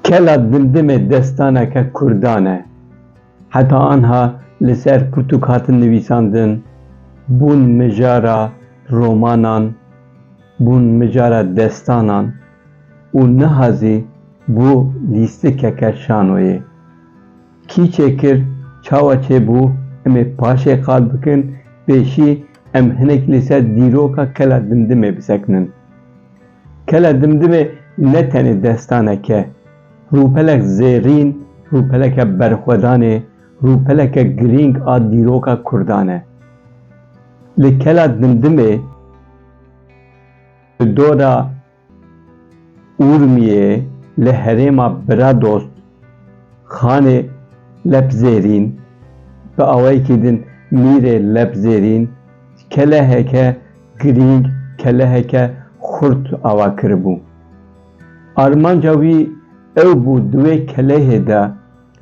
Kela Dildimê destaneke Kurdan e. Heta anha li ser pirtûk hatin nivîsandin, bûn mijara romanan, bûn mijara destanan û niha zî bû lîstikeke şanoyê. Kî çê kir, çawa çê bû, em ê paşê qal bikin, pêşî em hinek li ser dîroka Kela Dimdimê bisekinin. Kela Dimdimê ne tenê destanek e, rûpelek zêrîn, rûpeleke berxwedanê, rûpeleke girîng a dîroka Kurdan e. Li Kela Dimdimê, li dora Urmiyê li herêma Biradost Xanê Lepzêrîn bi awayekî din Mîrê Lepzêrîn keleheke girîng, keleheke xurt ava kiribû. Armanca wî ew bû di wê kelehê de,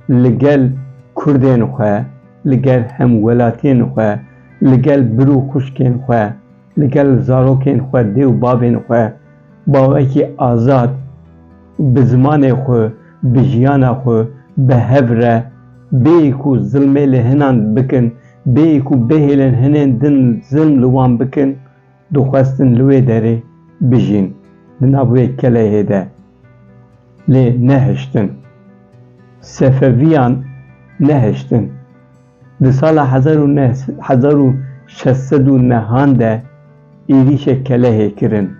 li gel kurdên xwe, li gel hemwelatiyên xwe, li gel bir û xwişkên xwe, li gel zarokên xwe, dê û bavên xwe bawekî azad bi zimanê xwe, bi jiyana xwe bi hev re bêyî ku zilmê li hinan bikin, bêyî ku bêhêlên hinên din zilm li wan bikin, Dixwestin li wê derê bijîn, di nav wê keleyê de, lê nehiştin. Sefeviyan nehiştin. Di sala hezar û neh hezar û şeş sed û nehan de êrîşek kelehê kirin.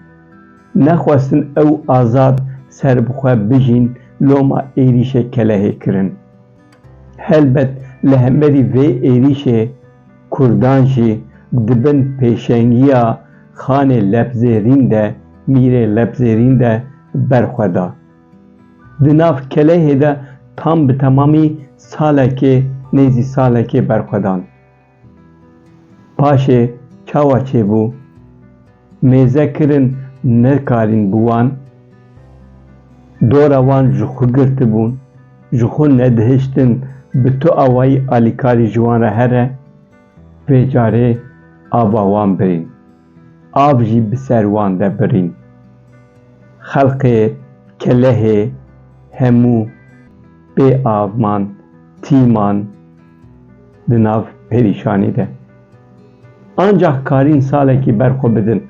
Nexwestin ew azad serbixwe bijîn loma êrîşek kelehê kirin. Helbet li hemberî vê êrîşê Kurdan jî di bin pêşengiya Xanê Lebzêrîn de, Mîrê Lebzêrîn de berxwe da. Di nav kelehê de tam bi temamî salekê nêzî salekê berxwe dan. Paşê çawa çêbû? Mêze kirin nekarîn bi wan, dora wan ji xwe girtibûn, ji xwe nedihiştin bi tu awayî alîkarî ji wan re here, vê carê ava wan birîn. Av jî bi ser wan de birîn. Xelqê Kelehê hemû bê av man, tî man di nav perîşanî de. Ancax karîn salekî ber xwe bidin.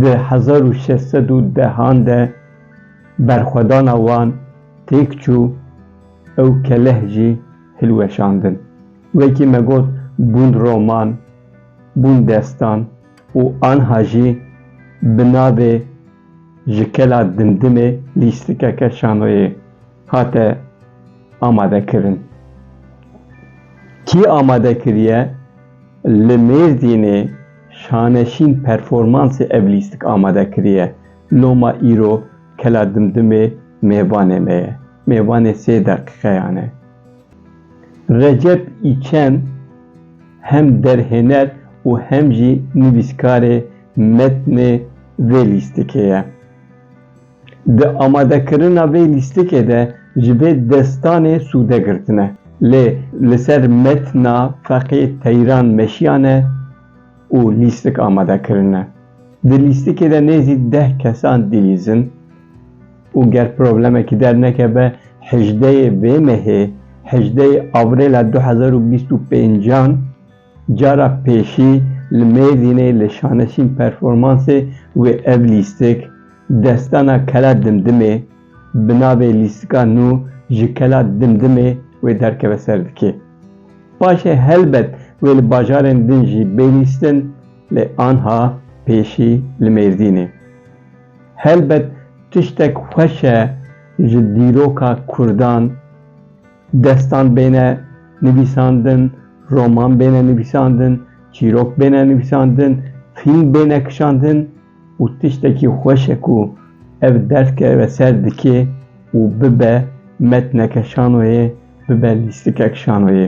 Di hezar û şeş sed û deh an de berxwedana wan têk çû ew keleh jî hilweşandin. Wekî me got bûn roman. bûn destan û anha jî bi navê Ji Kela Dimdimê lîstikeke şanoyê hate amadekirin. Kî amade kiriye? Li Mêrdînê Şaneşîn Performansê ev lîstik amade kiriye. Loma îro Kela Dimdimê mêvanê me ye. Mêvanê sê deqîqeyan e. Recep Îçen. Hem derhêner û hem jî nivîskarê metnê vê lîstikê ye. Di amadekirina vê lîstikê de ji vê destanê sûde girtine. Lê li ser metna feqê Teyran meşiyane û lîstik amade kirine. Di lîstikê de nêzî deh kesan dilîzin. û ger problemekî dernekeve hejdeyê vê mehê, hejdeyê Avrêla du hezar û bîst û pêncan cara pêşî li Mêrdînê li Şaneşîn Performansê wê ev lîstik Destana Kela Dimdimê bi navê Lîstika Nû ji Kela Dimdimê wê derkeve ser dikê. Paşê helbet wê li bajarên din jî bê lîstin lê anha pêşî li Mêrdînê. Helbet tiştek xweş e ji dîroka Kurdan destan bêne nivîsandin, roman bêne nivîsandin, çîrok bêne nivîsandin, fîlm bêne kişandin û tiştekî xweş e ku ev dest keve ser dikê û bibe metneke şanoyê, bibe lîstikek şanoyê.